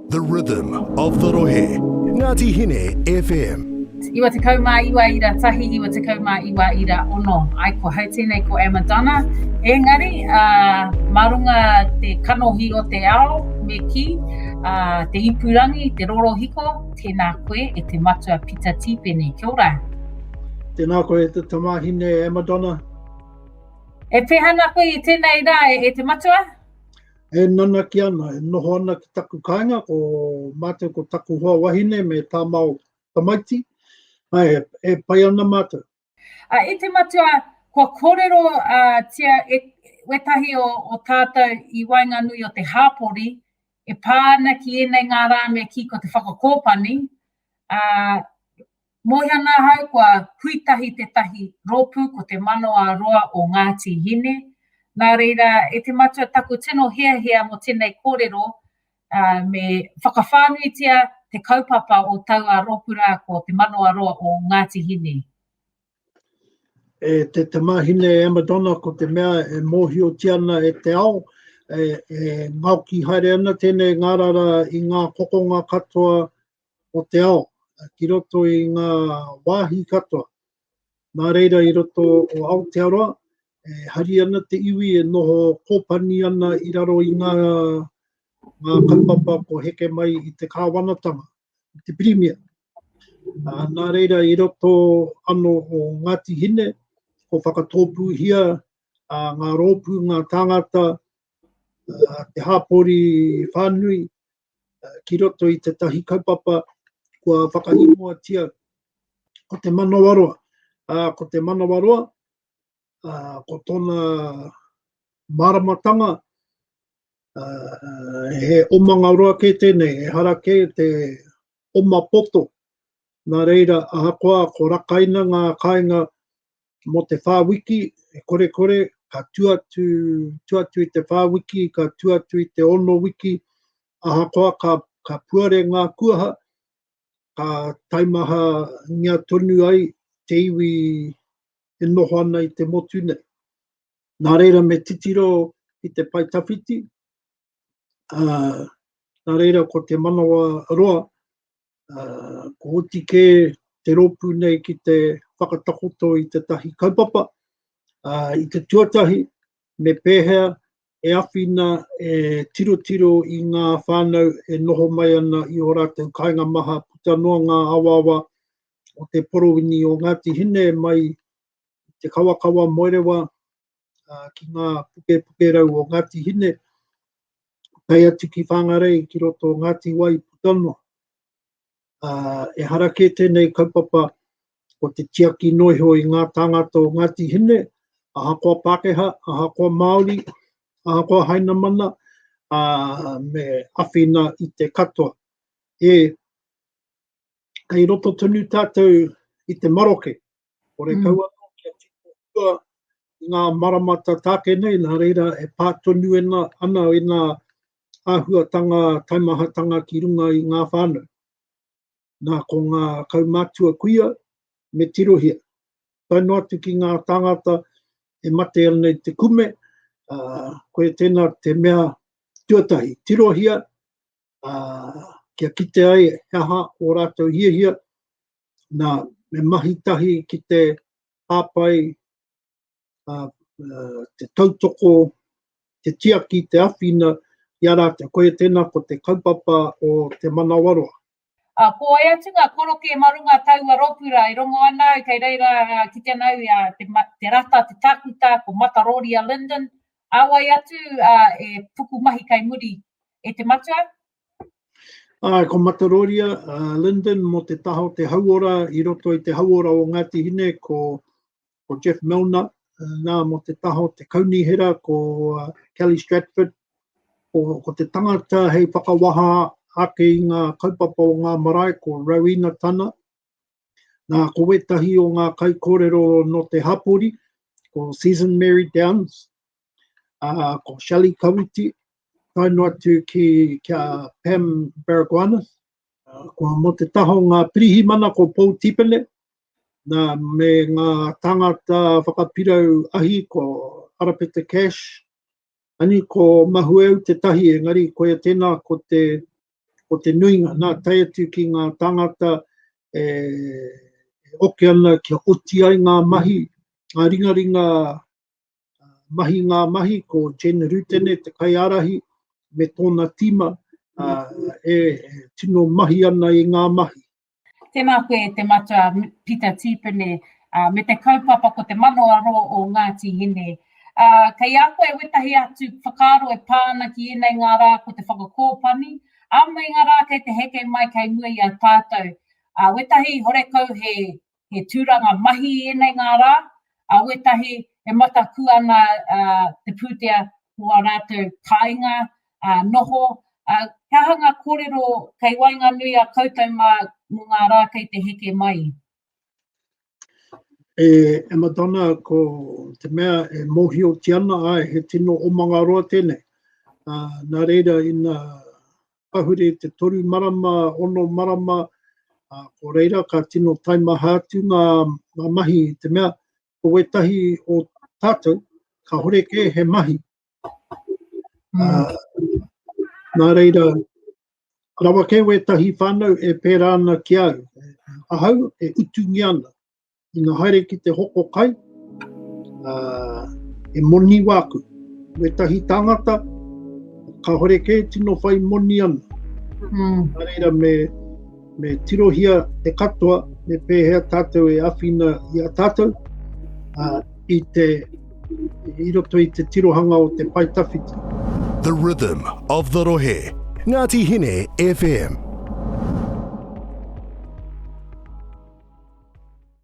The rhythm of the rohe, Ngati Hine FM. 99 ira tahi 99 ira ono ai ko hau tenei ko Emma Donna engari a ma runga te kanohi o te ao me ki a te ipurangi te rorohiko tena koe e te matua pita tipene kia ora tena koe e te tamahine Emma Donna e peha na koe i tenei ra e te matua E nanaki ana, e noho ana ki taku kāinga, ko mātou ko taku hoa wahine me tāmao tamaiti, ai, e pai ana mātou. A, i te matua, kua kōrero a, tia e, wetahi o, o tātou i waenganui o te hāpori, e pā ana ki ēnei ngā rā me kī ko te whakakōpani, a, Mōhio ana ahau kua hui tahi tētahi rōpū ko Te Manawa Roa o Ngāti Hine, nā reira e te matua taku tino hiahia mō tēnei kōrero me whakawhānuitia te kaupapa o taua rōpū rā ko Te Manawa Roa o Ngāti Hine. E te tamahine e Amadona ko te mea e mōhiotia ana e te ao, e, e ngaoki haere ana tēnei ngārara i ngā kokonga katoa o te ao ki roto i ngā wāhi katoa. Nā reira i roto o Aotearoa, e hari ana te iwi e noho kōpani ana i raro i ngā, ngā kaupapa ko heke mai i te kāwanatanga, i te pirimia. Uh, nā reira i roto ano o Ngāti Hine, ko whakatōpūhia uh, ngā rōpū, ngā tāngata, uh, te hāpori whānui, ki roto i tētahi kaupapa kua whakaingoatia ko te manawaroa. Ā, ko te manawaroa, ā, ko tōna māramatanga, ā, he omanga roa kē tēnei, ehara kē te oma poto. Nā reira, ahakoa ko Rakaina ngā kāinga Mō te whā wiki, e kore kore, ka tū atu, tū atu i te whā wiki, ka tū atu i te ono wiki, ahakoa ka, ka puare ngā kuaha, ka taimaha ngia tonu ai te iwi e noho ana i te motu nei. Nā reira me titiro ki te pai tawhiti, uh, nā reira ko te manawa roa, ko oti kē te rōpū nei ki te whakatakoto i tētahi kaupapa, i te tuatahi, me pēhea e awhina e tirotiro i ngā whānau e noho mai ana i ō rātou kāinga maha puta noa ngā awaawa o te porowini o Ngāti Hine mai i te kawakawa Moerewa uh, ki ngā puke puke rau o Ngāti Hine, kai atu ki Whangarei, ki roto o Ngāti Wai, Putano. Uh, e hara kē tēnei kaupapa ko te tiaki noiho i ngā tāngata o Ngāti Hine, ahakoa Pākehā, ahakoa Māori, ahakoa Hainamana, a me awhina i te katoa. E, kei roto tonu tātou i te maroke, Kore kau anō kia tino hua i ngā marama tā tāke nei, nā reira e pā tonu ana ēnā āhuatanga taimahatanga ki runga i ngā whānau. Nā, ko ngā kaumātua kuia, me tirohia. Tae noa atu ki ngā tāngata e mate ana i te kume, ā, koe tēnā te mea tuatahi, tirohia, ā, kia kite ai he aha ō rātou hiahia, nā, me mahi tahi ki te hāpai, uh, uh, te tautoko, te tiaki, te awhina i a rātou. Koia tēnā ko te kaupapa o te manawaroa. Uh, ko ai atu ngā koroke mā runga taua ropura e rongo ana au kei reira uh, ki te nau i a te, te rata, te takuta, ko Mataroria Linden. Awai atu uh, e puku mahi kai muri e te matua, Āe, ko Mataroria, a Lyndon, mō te taha o te hauora, i roto i te hauora o Ngāti Hine, ko, ko Jeff Milner, nā, mō te taha o te kaunihera, ko uh, Kelly Stratford, ko, ko te tangata hei whakawaha ake i ngā kaupapa o ngā marae, ko Rowena Tana, nā, ko wētahi o ngā kaikōrero nō te hapori, ko Season Mary Downs, ko Shelley Kawiti, tae noa atu ki kia Pam Baragwanis, ko mo te taha o ngā pirihimana ko Paul Tipene, nā, me ngā tāngata whakapirau ahi ko Arapeta Cash, ani ko Mahueu te tahi, engari koia tēnā ko te, ko te nuinga, nā, tae atu ki ngā tāngata e, e oke ana kia oti ai ngā mahi, ngā ringaringa mahi ngā mahi ko Jen Rutene, te kaiārahi, me tōna tīma e tino mahi ana i ngā mahi. Tēnā koe e te matua Pita Tīpene me te kaupapa ko te mano aro o Ngāti Hine. Kei a koe wetahi atu whakaaro e pā ana ki ēnei ngā rā ko te whakakōpani, ā meinga rā kei te heke mai kei mua i a tātou. Wetahi horekau he he tūranga mahi i ēnei ngā rā, ā, wētahi e mataku ana te pūtea o ā rātou kāinga, ā, noho, ā, he aha ngā kōrero kei waenganui a koutou mā mō ngā rā kei te heke mai? E, e Madonna, ko te mea e mōhio ki ana, āe, he tino omangaroa tēnei. Ā, nā reira, ina, Pahure te toru marama, ono marama, ā, ko reira ka tino taimaha atu ngā, ngā mahi i te mea, ko wētahi o tātou, kāore kē he mahi. Ā, nā reira, rawa kē wētahi whānau e pērā ana ki au, ahau e utungia ana, Ina haere ki te hoko kai, uh, e moni wāku. Me tahi tāngata, ka hore kē tino whai moni ana. Mm. A reira me, me tirohia e katoa, me pēhea tātou e awhina i a tātou, uh, i te i roto i te tirohanga o te pai tawhiti. The Rhythm of the Rohe, Ngāti Hine FM.